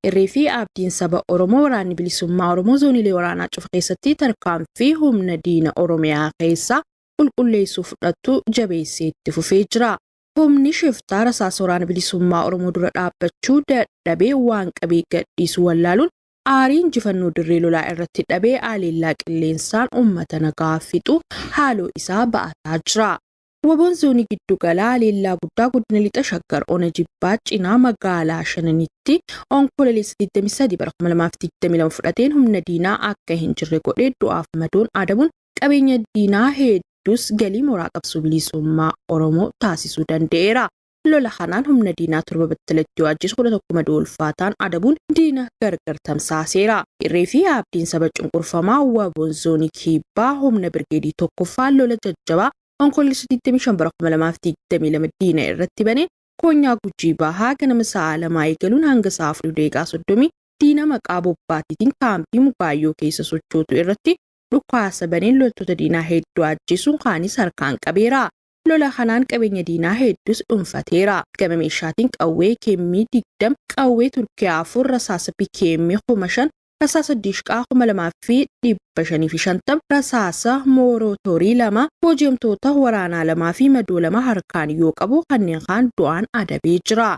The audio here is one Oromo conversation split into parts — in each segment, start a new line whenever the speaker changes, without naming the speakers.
Irree fi abdiin saba Oromoo waraanni bilisummaa Oromoo zooniilee waraanaa cufa keessatti tarkaanfii humna diina Oromiyaa keessaa qulqulleessuu fudhattu jabeessee itti fufee jira. Humni shiftaa rasaasa waraana bilisummaa Oromoo dura dhaabbachuu dadhabee waan qabee gadhiisu wallaaluun Aarii injifannoo dirree lolaa irratti dhabe aaleellaa qilleensaan uummata nagaa fixu haaloo isaa ba'ataa jira. Wabon Zoonii Giddu Galaa aleellaa guddaa Godina Lixa Shaggar Ona Jibbaa cinaa magaalaa Shananitti Onkololeessa 23 bara 2022 fudhateen humna diinaa akka hin jirre godhee du'aaf madoon adabuun qabeenya diinaa heedduus galii mooraa qabsoo bilisummaa Oromoo taasisuu danda'eera. Lola kanaan humna diinaa torba battalatti yoo ajjeesu kudha tokko madoo ulfaataan adabuun diina gargar tamsaaseera. Irree fi Abdiin saba cunqurfamaa waboon zoonii kibbaa humna birgeedii tokkoffaa lola jajjabaa Onkoloolessa 25 bara 2022 diina irratti baneen koonyaa Gujii Bahaa ganama sa'aa lamaa eegaluun hanga sa'aa 4:30 diina maqaa bobbaatiitiin kaampii Mugaayyoo keessa sochootu irratti dhukaasa baneen loltoota diinaa hedduu ajjeesuun kaanis harkaan qabeera. Lola kanaan qabeenya diinaa heddus dhunfateera. Gama meeshaatiin qawwee KM 20, qawwee Turkiyaa 4, rasaasa PKM 5000, rasaasa Diishqaa 2550, rasaasa Moorootorii 2, booji'amtoota waraanaa 2 fi madoo 2 harkaan yoo qabu kanneen kaan du'aan adabee jira.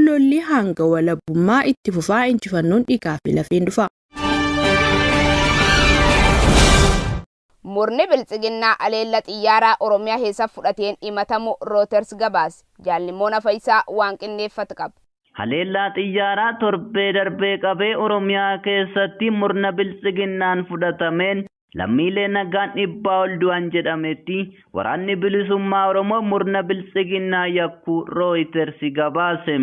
Lolli hanga walabummaa itti fufa, injifannoon dhiigaa fi lafeen dhufa.
Murni Biltsiginnaa aleella xiyyaaraa Oromiyaa keessa fudhateen himatamu Reuters gabaase. Jaal Nimmoona Fayisaa waan qindeeffat qaba. Haleellaa
xiyyaaraa torbee darbee qabee Oromiyaa keessatti murna Biltsiginnaan fudhatameen lammiilee nagaan dhibbaa ol du'an jedhametti Waraanni Bilisummaa Oromoo murna Biltsiginnaa yakkuu Reuters gabaase.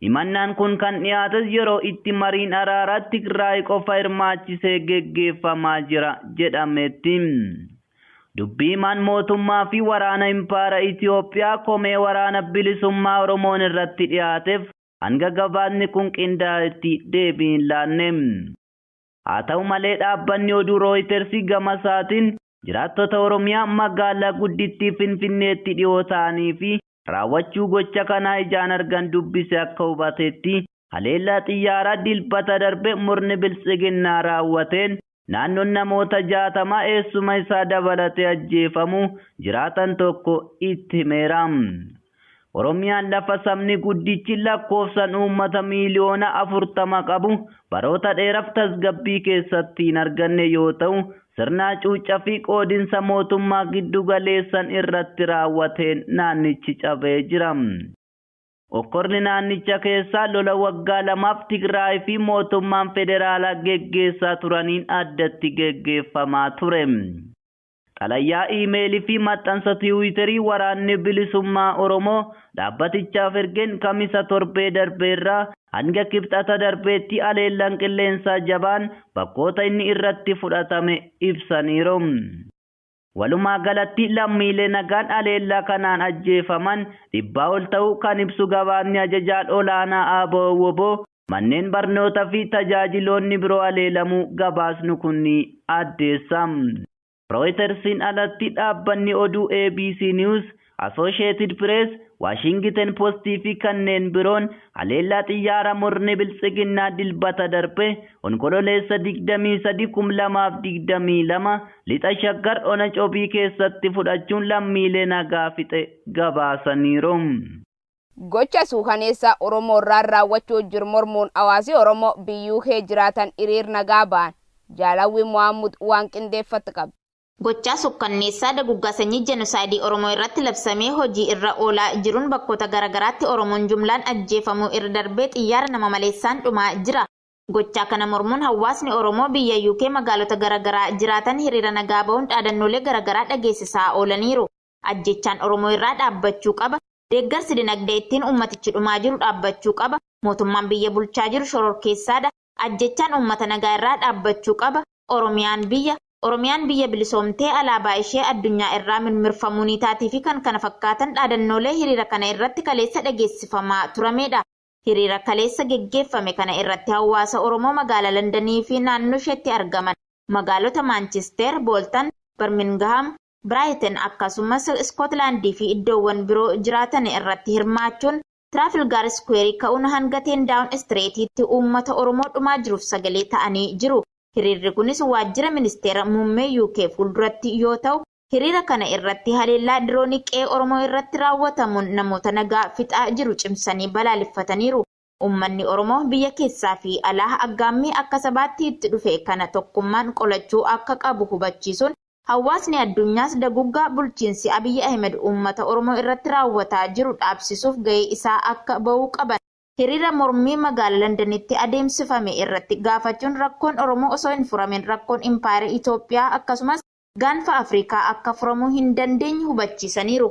Himannaan kun kan dhiyaates yeroo itti mariin araaraa Tigraay qofa hirmaachisee geggeeffamaa jira jedhametti. Dubbi himaan mootummaa fi waraana Impaara Itiyoophiyaa komee Waraana Bilisummaa Oromoon irratti dhiyaateef hanga gabaasni kun qindaa'etti deebii hin laanne. Haa ta'u malee dhaabbanni oduu Rooyiters gamasaatiin jiraattota Oromiyaa magaalaa guddittii Finfinneetti dhihoo ta'anii fi raawwachuu gocha kanaa ijaan argan dubbise akka hubatetti haleellaa xiyyaaraa Dilbata darbe murni Biltsiginnaa raawwateen naannoon namoota 60 eessuma isaa dabalatee ajjeefamuu jiraataan tokko itti himeera. Oromiyaan lafa sabni guddichi lakkoofsan uummata miiliyoona 40 qabu baroota dheeraf tasgabbii keessatti hin arganne yoo ta'u, sirna hacuucca fi qoodinsa mootummaa giddu galeessan irratti raawwateen naannichi cabee jira. Okkorni naannicha keessaa lola waggaa lamaaf Tigraay fi mootummaan federaalaa geggeessaa turaniin addatti geggeeffamaa ture. Xalayaa iimeelii fi maxxansa tiwiiterii Waraanni Bilisummaa Oromoo dhaabbatichaaf ergeen Kamisa torbee darbe irraa hanga Kibxata darbeetti haleellaan qilleensaa jabaan bakkoota inni irratti fudhatame ibsaniiru. Walumaagalatti lammiilee nagaan haleellaa kanaan ajjeefaman dhibbaa ol ta'uu kan ibsu gabaasni Ajajaan Olaanaa Abo-wbo, manneen barnoota fi tajaajiloonni biroo haleelamuu gabaasnu kun ni addeessa. Rooyitersiin alatti dhaabbanni oduu ABC News, Asoosheetid Pirees, Waashingiten Postii fi kanneen biroon haleellaa xiyyaara murni Biltsiginnaa Dilbata darbe Onkololeessa 23, 2022 Lixa Shaggar ona Cobii keessatti fudhachuun lammiilee nagaa fixe gabaasaniiru.
Gocha suukaneessaa Oromoo irraan raawwachuu jiru mormuun hawaasi Oromoo by UK jiraatan hiriir nagaa bahan. Jaalawwi Mohammud waan qindeeffatt qabdi. Gochaa
sukkanneessaa daguggaa sanyii jenosaayidii Oromoo irratti labsamee hojii irra oolaa jiruun bakkoota gara garaatti Oromoon jumlaan ajjeefamuu irra darbee xiyyaara nama maleessaan dhumaa jira. Gochaa kana mormuun hawwaasni Oromoo biyya UK magaalota gara garaa jiraatan hiriira nagaa bahuun dhaadannoolee gara garaa dhageessisaa oolaniiru. Ajjeechaan Oromoo irraa dhaabbachuu qaba, deeggarsi dinagdee ittiin uummatichi dhumaa jiru dhaabbachuu qaba, mootummaan biyya bulchaa jiru shororkeessaa dha, ajjeechaan uummata nagaa irraa dhaabbachuu qaba, Oromiyaan biyya, Oromiyaan biyya bilisoomtee alaabaa ishee addunyaa irraa mirmirfamuu ni taati fi kkf dhaadannoolee hiriira kana irratti kaleessa dhageessifamaa turamee dha. Hiriira kaleessa geggeeffame kana irratti hawwaasa Oromoo magaalaa Landanii fi naannoo isheetti argaman, magaalota Maanchisteer, Booltan, Barmingaham, Biraayiten akkasumas Iskootilaandii fi iddoowwan biroo jiraatan irratti hirmaachuun Tiraafilgaar Iskuweerii ka'uun hanga Teen Daawun Istireetiitti uummata Oromoo dhumaa jiruuf sagalee ta'anii jiru. Hiriirri kunis waajjira ministeera muummee UK fuulduratti yoo ta'u, hiriira kana irratti haleellaa diroonii qe'ee Oromoo irratti raawwatamuun namoota nagaa fixaa jiru cimsanii balaaleffataniiru. Ummanni Oromoo biyya keessaa fi alaa aggaammii akka sabaatti itti dhufe kana tokkummaan qolachuu akka qabu hubachiisuun, hawwaasni addunyaas daguggaa bulchiinsi Abiy Ahimed uummata Oromoo irratti raawwataa jiru dhaabsisuuf gahee isaa akka bahuu qaban hiriira mormii magaala Landanitti adeemsifame irratti gaafachuun rakkoon Oromoo osoo hin furamin rakkoon Impaayera Itoophiyaa akkasumas Gaanfa Afrikaa akka furamuu hin dandeenye hubachiisaniiru.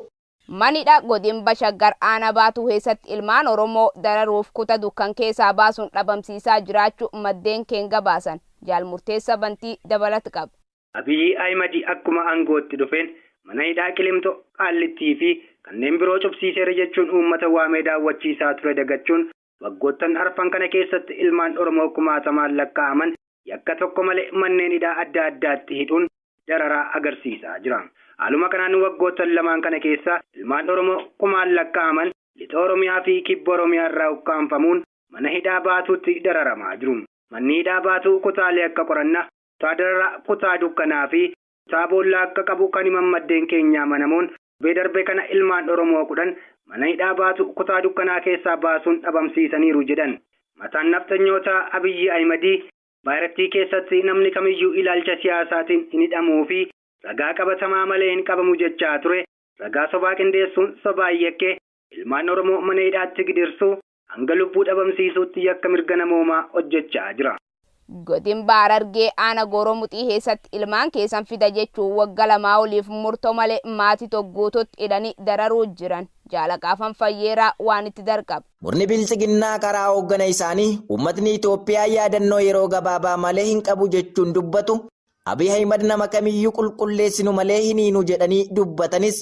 Mana hidhaa
godinba Shaggar aanaa Baatuu keessatti ilmaan Oromoo dararuuf kuta dukkan keessaa baasuun dhabamsiisaa jiraachu maddeen keen gabaasan. Jaal Murteessa Bantii dabalat qab. Abiyyi Ahimadi
akkuma aangootti dhufeen mana hidhaa Qilimxo, Qaallittii fi kanneen biroo cufsiiseera jechuun uummata waamee daawwachiisaa ture dagachuun Waggoottan arfan kana keessatti ilmaan Oromoo kumaatamaan lakkaa'aman yakka tokko malee manneen hidhaa adda addaatti hidhuun dararaa agarsiisaa jira. Haaluma kanaan waggoottan lamaan kana keessa ilmaan Oromoo kumaan lakkaa'aman Lixa Oromiyaa fi Kibba Oromiyaa irraa ukkaamfamuun mana hidhaa Baatuutti dararamaa jiru. Manni hidhaa Baatuu kutaalee akka qoranna, kutaa dararaa, kutaa dukkanaa fi Isaa boolla akka qabu kan himan maddeen keenya amanamoon, torbee darbe kana ilmaan Oromoo 10 mana hidhaa Baatuu kutaa dukkanaa keessaa baasuun dhabamsiisaniiru jedhan. Mataan nafxanyootaa Abiyyi Ahimadii, Impaayrattii keessatti namni kamiyyuu ilaalcha siyaasaatiin hin hidhamuu fi ragaa qabatamaa malee hin qabamu jechaa ture, ragaa sobaa qindeessuun sobaan yakkee ilmaan Oromoo mana hidhaatti gidirsuu, Hanga lubbuu dhabamsiisuutti yakka mirga namoomaa hojjechaa jira. Godin Baar
Hargee Aana Gooroo Muxii keessatti ilmaan keessan fida jechuun wagga lamaa oliif murto male maati to guututti hidhani dararuu jiran Jaala Qaafan Fayyeeraa waan itti darqab. Murni Biltsiginnaa
karaa hooggana isaanii uummatni Itoophiyaa yaadannoo yeroo gabaabaa malee hin qabu jechuun dubbatu, Abiy Ahimad nama kamiyyuu qulqulleessinu malee hin hiinu jedhanii dubbatanis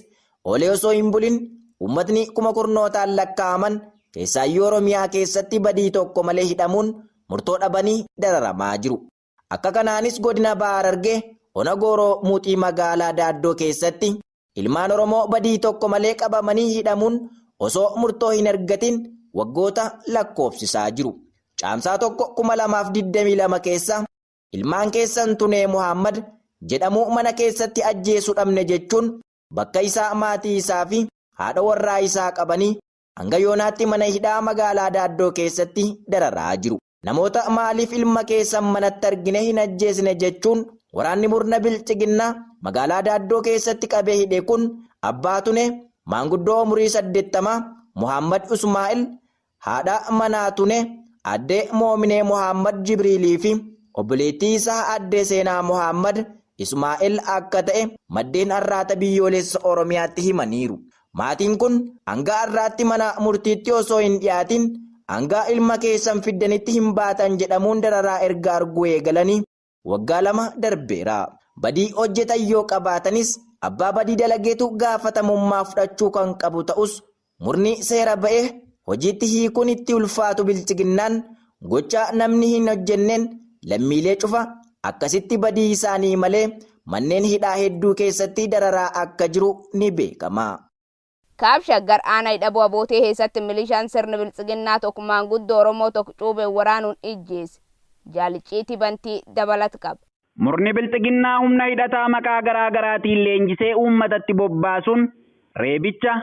oolee osoo hin bulin uummatni kuma kurnootaan lakkaa'aman keessaayyuu Oromiyaa keessatti badii tokko malee hidhamuun murtoo dhabanii dararamaa jiru. Akka kanaanis godina Baha Harargee ona Gooroo Muuxii magaalaa Daaddoo keessatti ilmaan Oromoo badii tokko malee qabamanii hidhamuun osoo murtoo hin argatin waggoota lakkoofsisaa jiru. Caamsaa 1, 2022 keessa Ilmaan keessan Tunee Muhaammad jedhamu mana keessatti ajjeesu dhabne jechuun bakka isaa maatii isaa fi haadha warraa isaa qabanii hanga yoonaatti mana hidhaa magaalaa Daaddoo keessatti dararaa jiru. Namoota maaliif ilma keessan manatti argine hin ajjeesne jechuun waraanni murna bilxiginnaa magaalaa Daaddoo keessatti qabee hidhe kun abbaa Tunee, maanguddoo umurii saddeettamaa Muhaammad Usmaa'il, Haadha manaa Tune Aadde Moominee Mohaammad Jibriilii fi obboleettii isaa Aadde Seenaa Mohaammad Ismaa'el akka ta'e maddeen Arraata Biyyoolessa Oromiyaatti himaniiru. Maatiin kun hanga har'aatti mana murtiitti osoo hin dhiyaatiin hanga ilma keessan fiddanitti hin baatan jedhamuun dararaa erga arguu eegalanii Waggaa lama darbeera. Badii hojjetan yoo qabaatanis abbaa badii dalageetu gaafatamummaa fudhachuu kan qabu ta'us murni seera ba'e hojiitti hiikuun itti ulfaatu bilchiginnaan gochaa namni hin hojjenneen lammiilee cufa akkasitti badii isaanii malee manneen hidhaa hedduu keessatti dararaa akka jiru ni beekama. Kaab
Shaggar Aanaa Idhaboo Abootee keessatti milishaan sirni biltsiginnaa tokko maanguddoo Oromoo tokko cuubeen waraanuun ijjeese. Jaal Icciitii Bantii dabalata qaba. Murni biltsiginnaa
humna hidhataa maqaa garaa garaatiin leenjisee uummatatti bobbaasuun reebicha,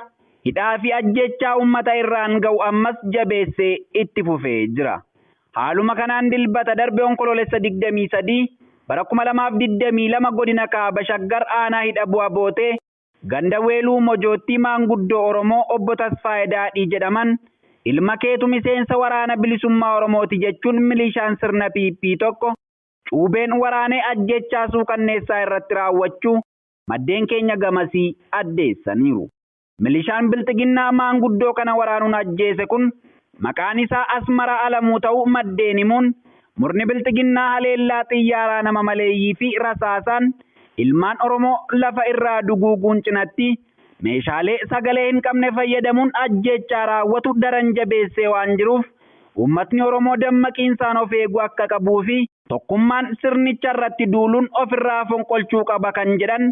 hidhaa fi ajjeechaa uummata irraan ga'u ammas jabeessee itti fufee jira. Haaluma kanaan Dilbata darbe Onkoloolessa 23, bara 2022 godina Kaaba Shaggar aanaa Hidhaboo Abootee, Ganda Weeluu Mojoottii maanguddoo Oromoo Obbo Tasfaayee Daadhii jedhaman ilma keetu miseensa Waraana Bilisummaa Oromooti jechuun milishaan sirna PP tokko cuubeen waraanee ajjeechaa suukanneessaa irratti raawwachuu maddeen keenya gamasii addeessaniiru. Milishaan Bilxiginnaa maanguddoo kana waraanuun ajjeese kun maqaan isaa Asmaraa Alamuu ta'uu maddeen himuun, murni Bilxiginnaa haleellaa xiyyaaraa nama maleeyyii fi rasaasaan ilmaan Oromoo lafa irraa duguuguun cinatti, meeshaalee sagalee hin qabne fayyadamuun ajjeechaa raawwatu daran jabeessee waan jiruuf uummatni Oromoo dammaqiinsaan of eeguu akka qabuu fi tokkummaan sirnicha irratti duuluun of irraa fonqolchuu qaba kan jedhan